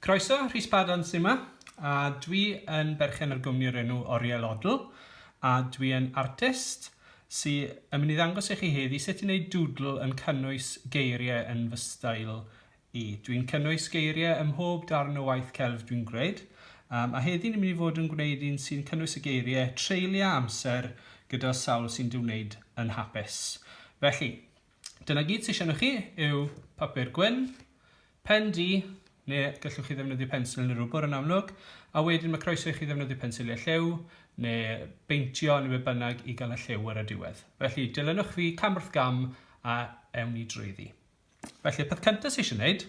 Croeso, Rhys Paddon sy 'ma, a dwi yn berchen ar gwmni o'r enw Oriel Odl, a dwi yn artist sy yn mynd i ddangos i chi heddi sut i wneud dŵdl yn cynnwys geiriau yn fy stael i. Dwi'n cynnwys geiriau ym mhob darn o waith celf dwi'n gwneud, um, a heddi ni'n mynd i fod yn gwneud un sy'n cynnwys y geiriau treulio amser gyda sawl sy'n dy wneud yn hapus. Felly, Dyna gyd sydd siarad chi yw papur gwyn, pen di, neu gallwch chi ddefnyddio pensil neu rwbr yn amlwg, a wedyn mae croeso i chi ddefnyddio pensiliau lliw, neu beintio neu be bynnag i gael y lliw ar y diwedd. Felly dilynwch fi cam wrth gam a ewn ni drwyddi. Felly y peth cyntaf sydd eisiau gwneud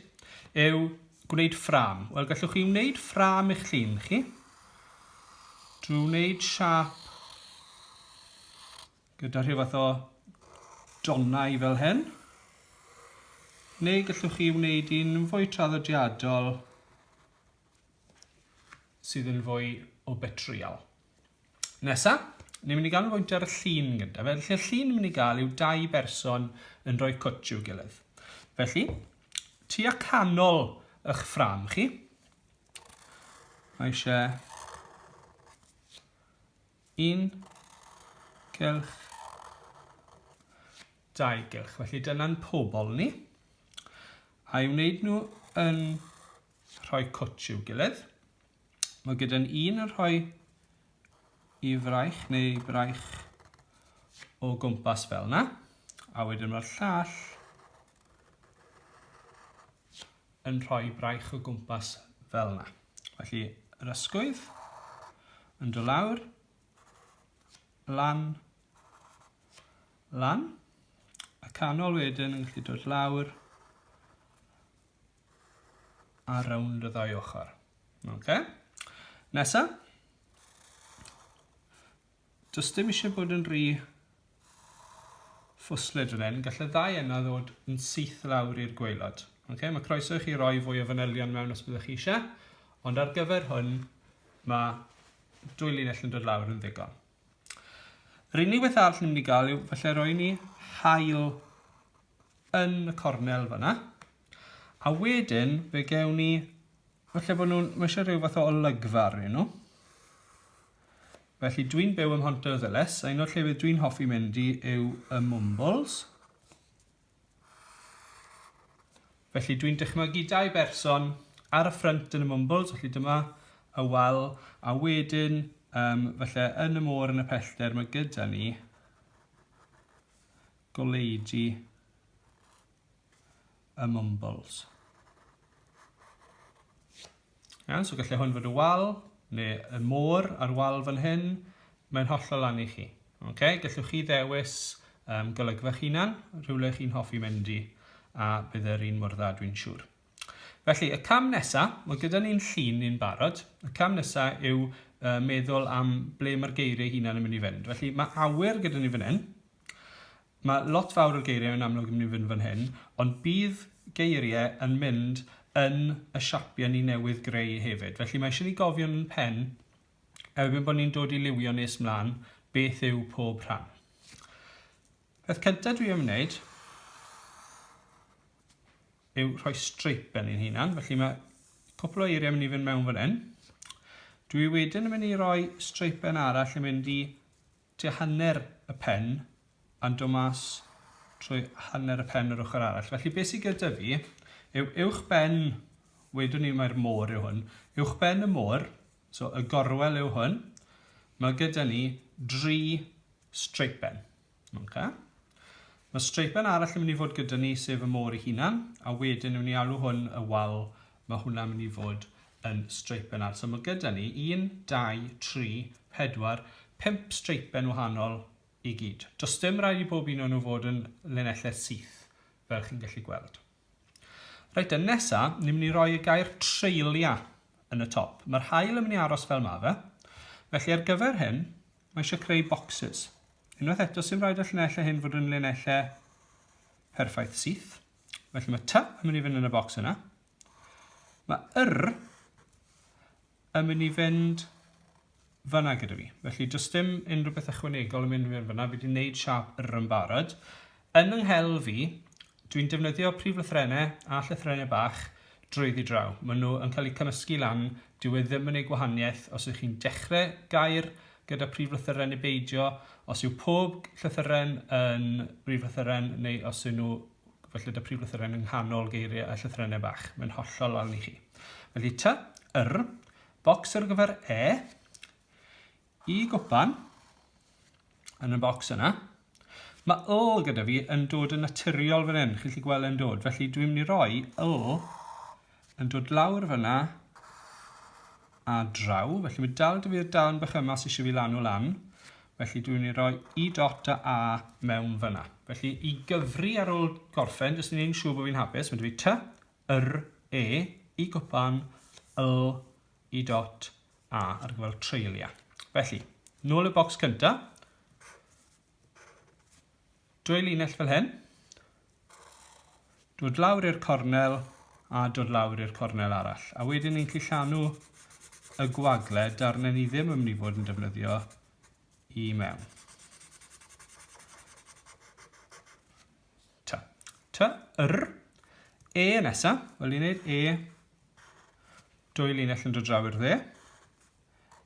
yw gwneud ffram. Wel gallwch chi wneud ffram eich llun chi drwy wneud siap gyda rhyw fath o donnau fel hyn. Neu gallwch chi wneud un fwy traddodiadol sydd yn fwy o betriol. Nesa, ni'n mynd i gael fwynt ar y llun gyda. Felly, y llun ni'n mynd i gael yw dau berson yn rhoi cwtch i'w gilydd. Felly, tu a canol eich ffram chi, mae eisiau Un gylch, dau gylch. Felly dyna'n pobol ni. A'i wneud nhw yn rhoi cwtsh i'w gilydd. Mae gyda'n un yn rhoi i fraich neu braich o gwmpas fel yna. A wedyn mae'r llall yn rhoi braich o gwmpas fel yna. Felly, yr ysgwydd yn dod lawr, lan, lan, y canol wedyn yn gallu dod lawr a rownd y ddau ochr. Okay. Nesa, Does dim eisiau bod yn rhy ffwslyd fan hyn. Gallai ddau enna ddod yn syth lawr i'r gweilod. Okay? Mae croeso i chi roi fwy o fanylion mewn os byddwch chi eisiau, ond ar gyfer hwn mae dwy linell yn dod lawr yn ddigon. Yr unig beth arall ni'n mynd i gael yw felly roi ni hael yn y cornel fyna. A wedyn fe gewn ni, felly bod nhw'n, mae eisiau rhyw fath o olygfa arnyn nhw. Felly dwi'n byw ym Mhontyrddyles, a un o'r llefydd dwi'n hoffi mynd i yw y Mwmbwls. Felly dwi'n dychmygu dau berson ar y ffrynt yn y Mwmbwls, felly dyma y wal, a wedyn um, felly yn y môr yn y pellter mae gyda ni goleudy y mumbles. Iawn, so gallai hwn fod y wal, neu y môr a'r wal fan hyn. Mae'n hollol lan i chi. Okay? Gallwch chi ddewis um, golygfach hunan, rhywle chi'n hoffi mynd i, a bydd yr un mor dda dwi'n siŵr. Felly, y cam nesaf, mae gyda ni'n llun ni'n barod, y cam nesaf yw uh, meddwl am ble mae'r geiriau hunan yn mynd i fynd. Felly, mae awyr gyda ni fan hyn, Mae lot fawr o'r geiriau yn amlwg yn mynd i fynd fan hyn, ond bydd geiriau yn mynd yn y siapiau ni newydd greu hefyd. Felly mae eisiau ni gofio yn ein pen, erbyn bod ni'n dod i liwio nes mlaen, beth yw pob rhan. Peth cyntaf dwi am wneud yw rhoi streip yn ein hunan, felly mae cwpl o eiriau yn mynd i fynd mewn fan hyn. Dwi wedyn yn mynd i roi streipen arall yn mynd i tua hanner y pen a'n dod mas trwy hanner y pen yr ochr arall. Felly beth sydd gyda fi yw uwchben, wedwn ni mae'r môr yw hwn, uwchben y môr, so y gorwel yw hwn, mae gyda ni dri streipen. Okay. Mae streipen arall yn mynd i fod gyda ni sef y môr ei hunan, a wedyn ni'n mynd i alw hwn y wal Mae hwnna'n mynd i fod yn streipen arall. So mae gyda ni 1, 2, 3, 4, 5 streipen wahanol i gyd. Does dim rhaid i bob un o'n nhw fod yn linellau syth, fel chi'n gallu gweld. Reit, yn nesa, ni'n mynd i roi y gair treulia yn y top. Mae'r hael yn mynd i aros fel mae fe. Felly ar gyfer hyn, mae eisiau creu boxes. Unwaith eto, sy'n rhaid y llinellau hyn fod yn linellau perffaith syth. Felly mae ty yn mynd i fynd yn y bocs yna. Mae yr yn mynd i fynd fyna gyda fi. Felly does dim unrhyw beth ychwanegol yn mynd i fynd fyna. Fi wedi gwneud siap yr yn barod. Yn yng nghel fi, dwi'n defnyddio prif lythrenau a llythrenau bach drwyddi draw. Maen nhw yn cael eu cymysgu lan. Dyw e ddim yn ei gwahaniaeth os ydych chi'n dechrau gair gyda phrif lythyren neu beidio, os yw pob llythyren yn brif lythyren neu os yw nhw felly da prif lythyren yng nghanol geiriau a llythyrennau bach. Mae'n hollol lawn i chi. Felly ty, yr, bocs ar gyfer e, i gwpan, yn y bocs yna. Mae yl gyda fi yn dod yn naturiol fan hyn, chi'n gallu gweld e'n dod. Felly dwi'n mynd i roi yl yn dod lawr fyna a draw, felly mae dal dy fi'r darn bach yma sy'n eisiau fi lanu lan, felly dwi'n mynd i roi i dot a a mewn fyna. Felly i gyfri ar ôl gorffen, jyst i wneud yn siŵr bod fi'n hapus, mae dy fi ty, yr, e, i gwpan, yl, i dot a ar gyfer treuliau. Felly, nôl y bocs cyntaf, Dwy linell fel hyn. Dod lawr i'r cornel a dod lawr i'r cornel arall. A wedyn ni'n cillanu y gwagle darnau ni ddim yn mynd i fod yn defnyddio i mewn. Ta. Ta. Yr. E nesa. Wel ni'n neud e. Dwy linell yn dod draw i'r dde.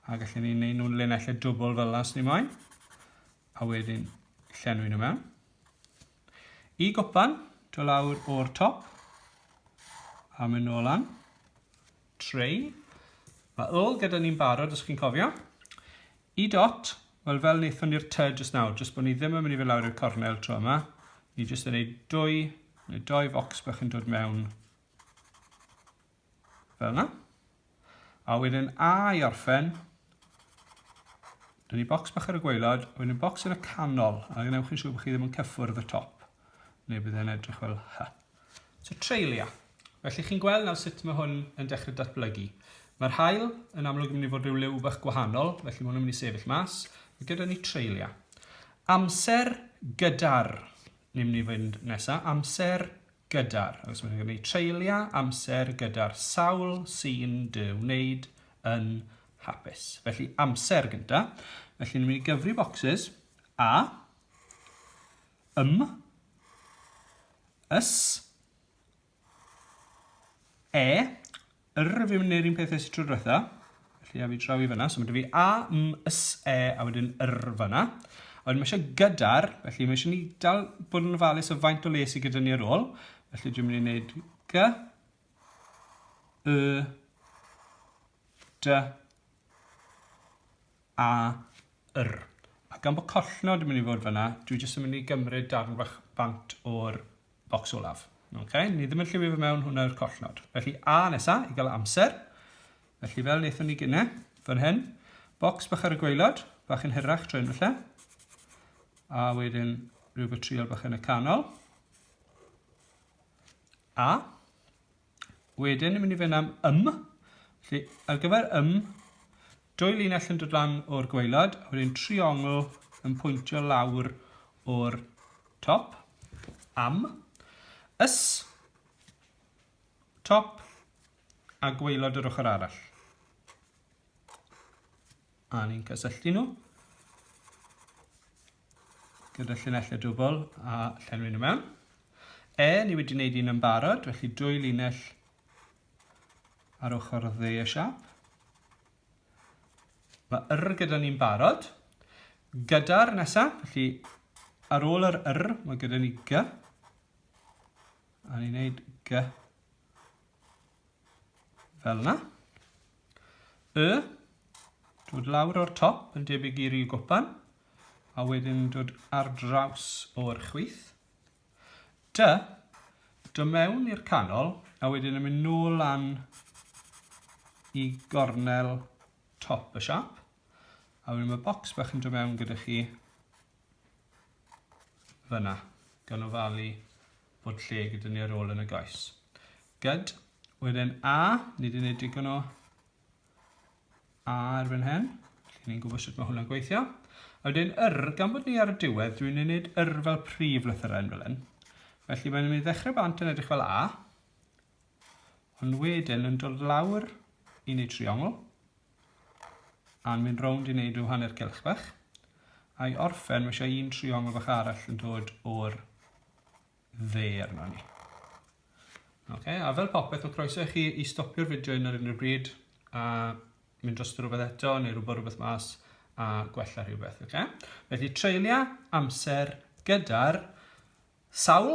A gallen ni'n neud nhw'n linellau dwbl fel las ni moyn. a wedyn llenwi nhw mewn. Y gwpan, do lawr o'r top, a mynd nôl lan. Treu. Mae ôl gyda ni'n barod, os chi'n cofio. Y dot, wel fel wnaethon ni'r ty jyst nawr, jyst bod ni ddim yn mynd i fy lawr i'r cornel tro yma. Ni jyst yn ei dwy, neu doi focs bach yn dod mewn fel yna. A wedyn A i orffen, dyna ni bocs bach ar y gwaelod, a wedyn bocs yn y canol, a gwnewch yn siŵr bod chi ddim yn cyffwrdd y top, neu bydd e'n edrych fel hy. So treulia. Felly chi'n gweld nawr sut mae hwn yn dechrau datblygu. Mae'r hael yn amlwg yn mynd i fod rhyw liw bach gwahanol, felly mae hwn yn mynd i sefyll mas. Mae gyda ni treulia. Amser gyda'r, ni'n mynd i fynd nesaf, amser gyda'r, os mae'n gwneud treuliau amser gyda'r sawl sy'n dy wneud yn hapus. Felly amser gyda. Felly ni'n mynd i gyfri bocsys a, ym, ys, e, R fi'n mynd i'r un peth nes y tro diwetha. Felly a fi draw i fyna. So mae dy fi A, M, S, E a wedyn R fyna. A wedyn mae eisiau gyda'r, felly mae eisiau ni dal bod yn ofalus o faint o les i gyda ni ar ôl. Felly dwi'n mynd i wneud G, Y, D, A, yr. A gan bod collnod yn mynd i fod fan'na, dwi jyst yn mynd i gymryd darn bach bant o'r bocs olaf. Ok, ni ddim yn lliwio fe mewn, hwnna yw'r collnod. Felly A nesa, i gael amser. Felly fel wnaethon ni gynne, fan hyn, bocs bach ar y gwaelod, bach yn hirach trwy falle. A wedyn rhyw betriol bach yn y canol. A, Wedyn, ni'n mynd i fynd am ym. Felly, ar gyfer ym, dwy linell yn dod lan o'r gweilad, a wedyn triongl yn pwyntio lawr o'r top. Am. Ys. Top. A gweilod yr ochr arall. A ni'n cysylltu nhw. gyda llinellau dwbl a llenwi nhw mewn. E, ni wedi wneud un yn barod, felly dwy linell ar ochr dde y siap. Mae yr gyda ni'n barod. Gyda'r nesaf, felly ar ôl yr yr, mae gyda ni g. A ni'n gwneud g fel yna. Y, dod lawr o'r top yn debyg i ryw gwpan. a wedyn yn dod ar draws o'r chwith. Dy, dy mewn i'r canol, a wedyn yn mynd nôl lan i gornel top y siap. A wedyn mae bocs bach yn dod mewn gyda chi fyna, gan ofalu bod lle gyda ni ar ôl yn y goes. Gyd, wedyn A, ni wedi gwneud digon o Ar fan hyn, lle ni'n gwybod sut mae hwnna'n gweithio. A wedyn yr, gan bod ni ar y diwedd, dwi'n ei wneud yr fel prif lythyrau fel hyn. Felly mae'n mynd i ddechrau bant yn edrych fel A, ond wedyn yn dod lawr i wneud triongl, a'n mynd rownd i wneud rhyw hanner cilch bach, a'i orffen, mae eisiau un triongl bach arall yn dod o'r dde arno ni. Okay, a fel popeth, mae croeso i chi i stopio'r fideo yn yr unrhyw bryd a mynd dros rhywbeth eto neu rhywbeth rhywbeth mas a gwella rhywbeth. Okay? Felly treulia amser gyda'r sawl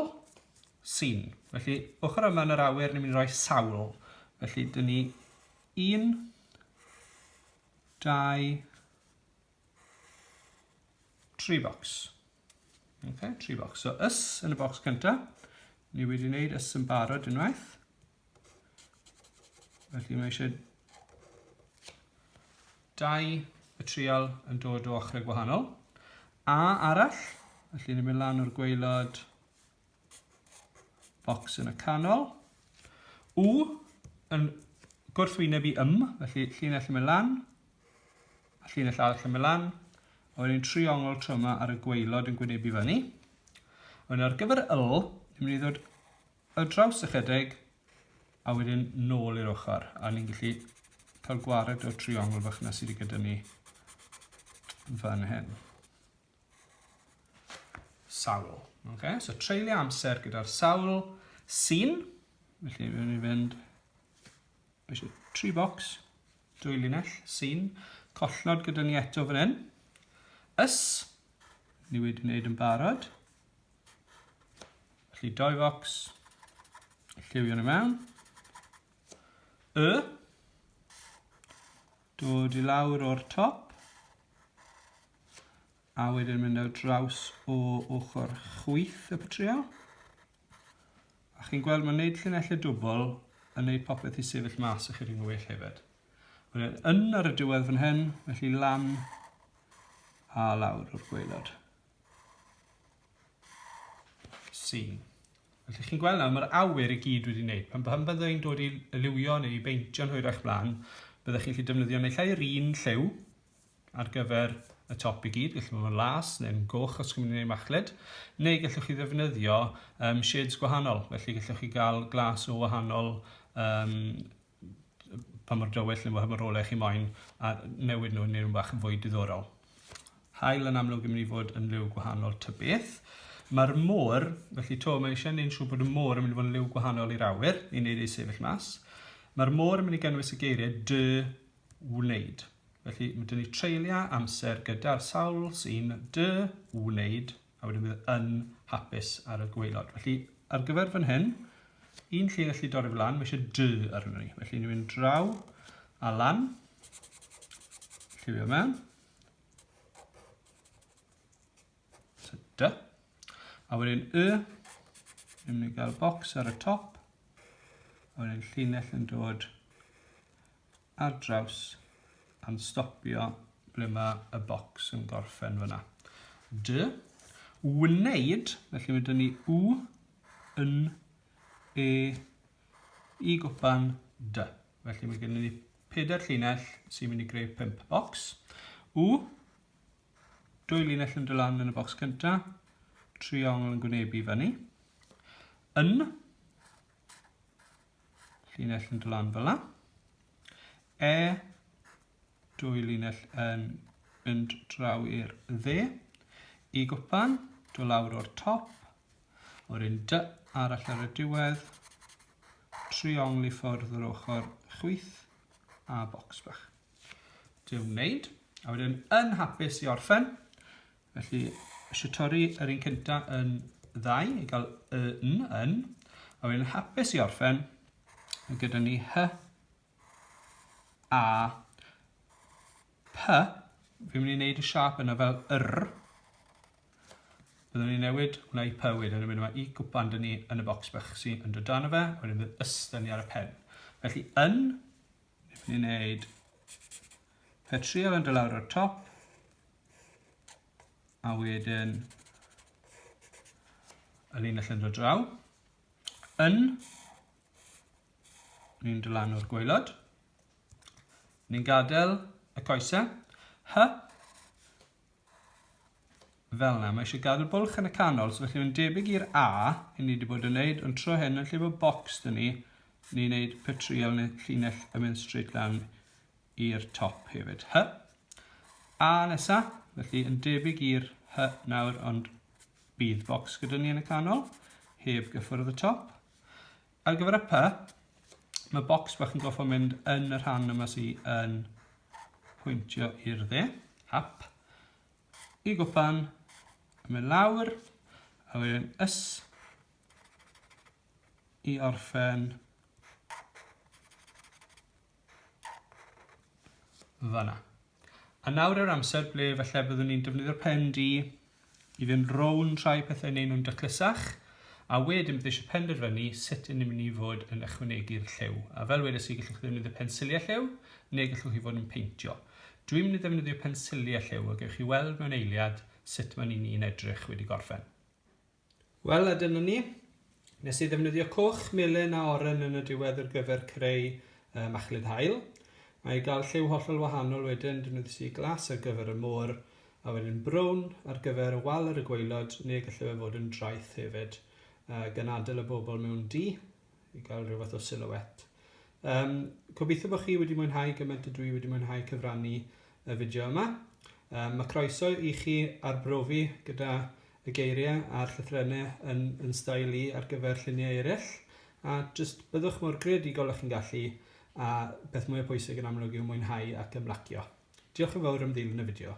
sy'n. Felly ochr yma yn yr awyr ni'n mynd i roi sawl. Felly dyn ni 1, 2, 3 bocs. Okay, tri bocs. So ys yn y bocs cynta. Ni wedi wneud ys yn barod unwaith. Felly mae eisiau dau y trial yn dod o ochrau gwahanol. A arall, felly ni'n mynd lan o'r gweilod bocs yn y canol. U yn gwrthwyneb i ym, felly llinell yn mynd lan, a llinell arall yn mynd lan, a wedyn triongl tro yma ar y gweilod yn gwynebu fyny. A wedyn ar gyfer yl, ni'n mynd i ddod y draws ychydig, a wedyn nôl i'r ochr, a ni'n gallu cael gwared o'r triongl fach yna sydd wedi gyda ni fan hyn. sawl. Okay? So treulio amser gyda'r sawl sy'n, felly rwy'n ni fynd eisiau tri bocs, dwy linell, sy'n, collnod gyda ni eto fan hyn, ys, ni wedi wneud yn barod, felly doi focs, lliwio nhw mewn, y, Dod i lawr o'r top. A wedyn mynd ar draws o ochr chwith y patrio. A chi'n gweld mae'n gwneud llinellau dwbl yn gwneud popeth i sefyll mas ychydig yn well hefyd. Wedyn yn ar y diwedd fan hyn, felly lan a lawr o'r gweilod. Sîn. Fel ydych chi'n gweld nawr, mae'r awyr i gyd wedi wneud. Pan, pan bydde i'n dod i liwio neu i beintio yn hwyrach blaen, byddech chi'n gallu defnyddio neu llai yr un lliw ar gyfer y top i gyd, gallu bod yn las neu'n goch os chi'n mynd i wneud machlud, neu gallwch chi ddefnyddio um, shades gwahanol, felly gallwch chi gael glas o wahanol um, pa mor dywyll neu pa mor ole chi moyn a newid nhw i neu' nhw bach yn fwy diddorol. Haul yn amlwg yn mynd i fod yn liw gwahanol ta beth. Mae'r môr, felly to, mae eisiau neud yn siŵr bod y môr yn mynd i fod yn liw gwahanol i'r awyr i wneud ei sefyll mas. Mae'r môr yn mynd i gynnwys y geiriau dy wneud. Felly mae dyn ni treulio amser gyda'r sawl sy'n dy wneud a wedyn bydd yn hapus ar y gwaelod. Felly, ar gyfer fan hyn, un lle gallu dorri fel lan, mae eisiau dy arno ni. Felly, ni'n mynd draw a lan. Lliwio mewn. So, dy. A wedyn y, ni'n mynd i gael bocs ar y top. A wedyn llinell yn dod ar draws a'n stopio ble mae y bocs yn gorffen fyna. Dy, wneud, felly mae dyn ni u, yn, e, i gwpan, dy. Felly mae gennym ni pedair llinell sy'n mynd i greu pimp bocs. U, dwy linell yn dylan yn y bocs cyntaf, triongl yn gwynebu fyny. Yn, llinell yn dod lan fel yna. E, dwy linell yn mynd draw i'r dde. I gwpan, do lawr o'r top, o'r un dy arall ar y diwedd, triongl i ffwrdd yr ochr chwyth a bocs bach. Dwi'n wneud, a wedyn yn hapus i orffen, Felly, eisiau torri yr un cynta yn ddau i gael y n yn, a wedyn hapus i orffen, mae gyda ni hy a py, fi'n mynd i wneud y siap yna fel yr, byddwn ni'n newid hwnna i py wedyn, a wedyn mae i gwpan dyn ni yn y bocs bach sy'n yn dod dan o fe, a wedyn bydd ys dyn ni ar y pen. Felly yn, ni'n wneud petriol yn dod lawr o'r top, A wedyn y linell yn dod draw. Yn. Ni'n dylanw'r gwaelod. Ni'n gadael y coesau. Hy. Fel yna, mae eisiau gadael bwlch yn y canol, so felly mae'n debyg i'r A, i ni wedi bod yn neud, ond tro hyn, yn lle bod bocs dyn ni, ni'n neud petriol neu llinell yn mynd straight lan i'r top hefyd. Hy. A nesa, felly yn debyg i'r hy nawr, ond bydd bocs gyda ni yn y canol, heb gyffwrdd y top. Ar gyfer y py, mae bocs bach yn goffo mynd yn y rhan yma sy'n yn pwyntio i'r dde, hap, i gwpan, a mynd lawr, a wedyn ys, i orffen Fanna. A nawr yw'r amser ble falle byddwn ni'n defnyddio'r pen di i fynd rownd rhai pethau neu nhw'n dyclysach, a wedyn bydd eisiau penderfynu sut yn ni'n mynd i fod yn ychwanegu'r lliw. A fel wedes i, gallwch chi ddefnyddio pensiliau lliw, neu gallwch chi fod yn peintio. Dwi'n mynd i ddefnyddio pensiliau lliw, a gewch chi weld mewn eiliad sut maen ni'n edrych wedi gorffen. Wel, a dyna ni. Nes i ddefnyddio coch, melyn a oren yn y diwedd ar gyfer creu uh, machlud hael. Mae i gael lliw hollol wahanol wedyn, defnyddiais i glas ar gyfer y môr, a wedyn brown ar gyfer y wal ar y gwaelod, neu gallai fe fod yn draeth hefyd, uh, gan adael y bobl mewn di. i gael rhyw fath o silhouette. Um, gobeithio bod chi wedi mwynhau gymaint y dwi wedi mwynhau cyfrannu y fideo yma. Um, mae croeso i chi arbrofi gyda y geiriau a'r llythrennau yn, yn stael i ar gyfer lluniau eraill a jyst byddwch mor greadigol ych chi'n gallu a beth mwy o bwysig yn amlwg yw mwynhau ac ymlacio. Diolch yn fawr am ddilyn y fideo.